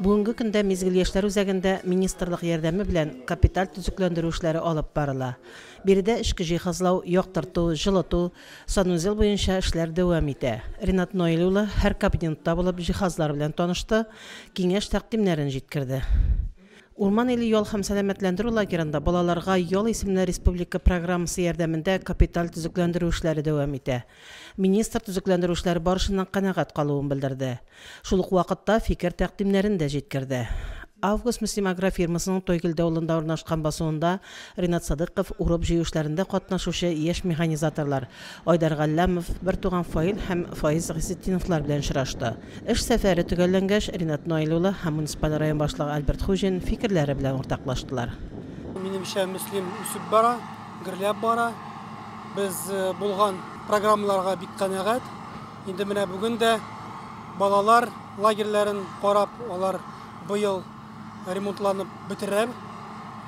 Бүгенге көндә Мизгел яшьләр үзәгендә министрлык ярдәме белән капиталь төзекләндерү эшләре алып барыла. Биредә эчке җиһазлау, яктырту, җылыту, санузел буенча эшләр дәвам итә. Ринат Наил улы һәр кабинетта булып, җиһазлар белән танышты, киңәш-тәкъдимнәрен җиткерде. Урман иле ял һәм сәламәтләндерү лагерында Балаларга ял исемле республика программасы ярдәмендә капиталь төзекләндерү эшләре дәвам итә. Министр төзекләндерү эшләре барышыннан канәгать калуын белдерде. Шул ук вакытта фикер тәкъдимнәрен дә җиткерде. Август Мөслим агрофирмасының Тойгелде авылында урнашкан басуында Ринат Садыйков урып-җыю эшләрендә катнашучы яшь механизаторлар Айдар Галләмов, бертуган Фаил һәм Фаиз Гыйзетдиновлар белән очрашты. Эш сәфәре төгәлләнгәч, Ринат Наил улы һәм муниципаль район башлыгы Альберт Хуҗин фикерләре белән уртаклаштылар. Минемчә, Мөслим үсеп бара. Гөрләп бара. Без булган программаларга бик канәгать. Инде менә бүген дә балалар лагерьләрен карап, алар быел ремонтланып бетерер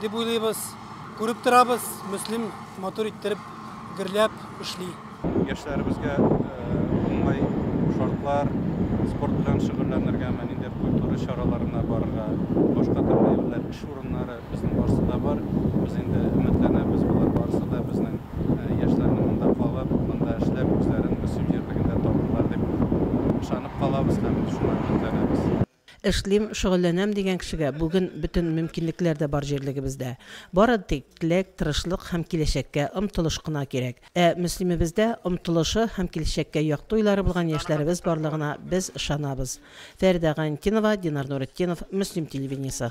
дип уйлыйбыз. Күреп торабыз, Мөслим матур иттереп гөрләп эшли. Яшьләребезгә уңай шартлар, спорт белән шөгыльләнергәме, ниндидер культура чараларына барырга, башка төрле юллар, эш урыннары, безнең барысы да бар. Без инде өметләнәбез, болар барысы да безнең яшьләрнең монда калып, монда эшләп, үзләрен Мөслим җирлегендә табарлар дип ышанып калабыз һәм шуңа өметләнәбез. Эшлим, шөгыльләнәм дигән кешегә бүген бөтен мөмкинлекләр дә бар җирлегебездә. Бары тик теләк, тырышлык һәм киләчәккә омтылыш кына кирәк. Ә Мөслимебездә омтылышы һәм киләчәккә якты уйлары булган яшьләребез барлыгына без ышанабыз. Фәридә Гайнтинова, Динар Нуретдинов, Мөслим телевидениесе.